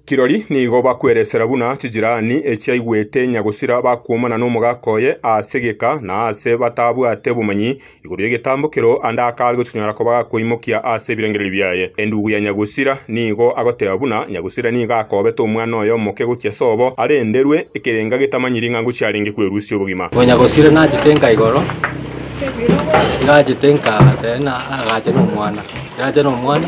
Kirori nigo bakweresera buna chijirani echiaigwete nyagosira bakwomana nomogaka oye ase egeka na aase batabwate bomanyi igoro y'egetambo kero ande akare gochinyora koba gakoimokia ase ebirengererio biaye. Endugu ya nyagosira nigo agoteba buna nyagosira nigo akobete omwana oye omoke gochia sobo arenderwe ekerenga getamanyiri ng'a ngochia arenge kwerusia obogima. Bo nyagosira nachete nka igoro nachete nka agacha nomwana eracha nomwana.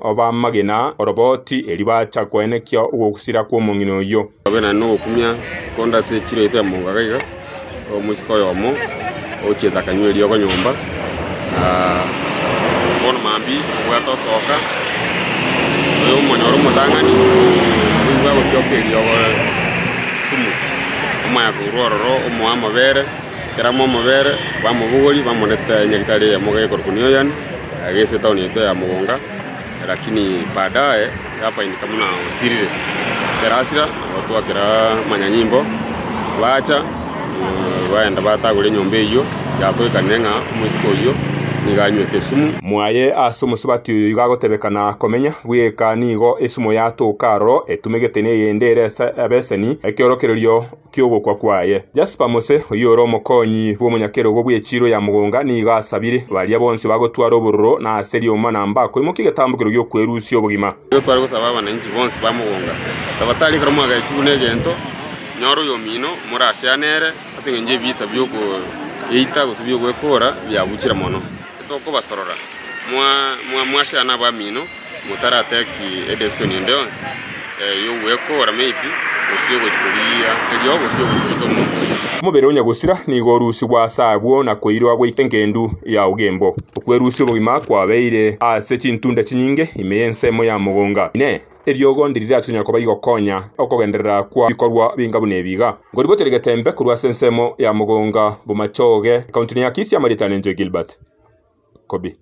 obamagena oroboti erio bacha koenekia ogosira kw'omong'ina oyio. Babe naende nogokumia konde ase echiro yaito ya mongo iga iga, omosike oyomo ogochiete akanywa eriogo nyomba, na bono mambia obwate osoka oyo omonyore omotang'ani oigwe agotioka eriogo sumu, omoe akoirwa ororo omoe amabere, ekero amoa amabere, bamobogori bamonete nyagetari eyemo gekorokwa Neoyan. Yagesia etaoni yaito ya mogonga, lakini baadaye yapaindika buna osirire. Ekero asira, nabatwa kera amanyanyimbo, bacha baenda batagora enyomba eyio, yatoikanire ng'a omoiseke oyio nigo anywete esumu. Mwaye ase omosubati oyo igo agotebeka na komenya, bweka nigo esumu yatoka aroro etumegete neyende ere ase abeseni, ekeorokererio. ki'ogokwa kwaye. Jasper Mose, oyio ore omokonyi bw'omonyakerogo bwe chiiro ya mogonga, nigo asabire baria bonsi bagotwara obororo na ase rioma na mbako imoke egetambokero gi'okwerusia obogima. Nigo tware gosaba abananchi bonsi ba mogonga, tabatari ekero mwagachigwa negento, nyora oyomino more asea nere, ase engencho ebiisa bi'okoeita gose bi'ogwekoora biabuchire mono. Tokobasorora, mwasea nabamino. Motarataki edesisoni ende yonsi y'ogwekora maybe gose y'ogochia korigia erio gose y'ogochia goita omonto oyo. Omobere onya gosira nigo orusigwa ase agwo na koirwa goika engendu ya ogembo. Okwerusia obogima kwabeire ase chintunda chinyinge ime y'ensemo ya mogonga. Inee! Eriogo ndiri riacha konya koba rigokonya okogenderera kwa bikorwa binga buna ebi iga? Nkoribwatera egetembe korwa ase ensemo ya mogonga, Bomachoge, ekaunti ne Akisi, amaritano 'Enjoy Gilbert Kobi.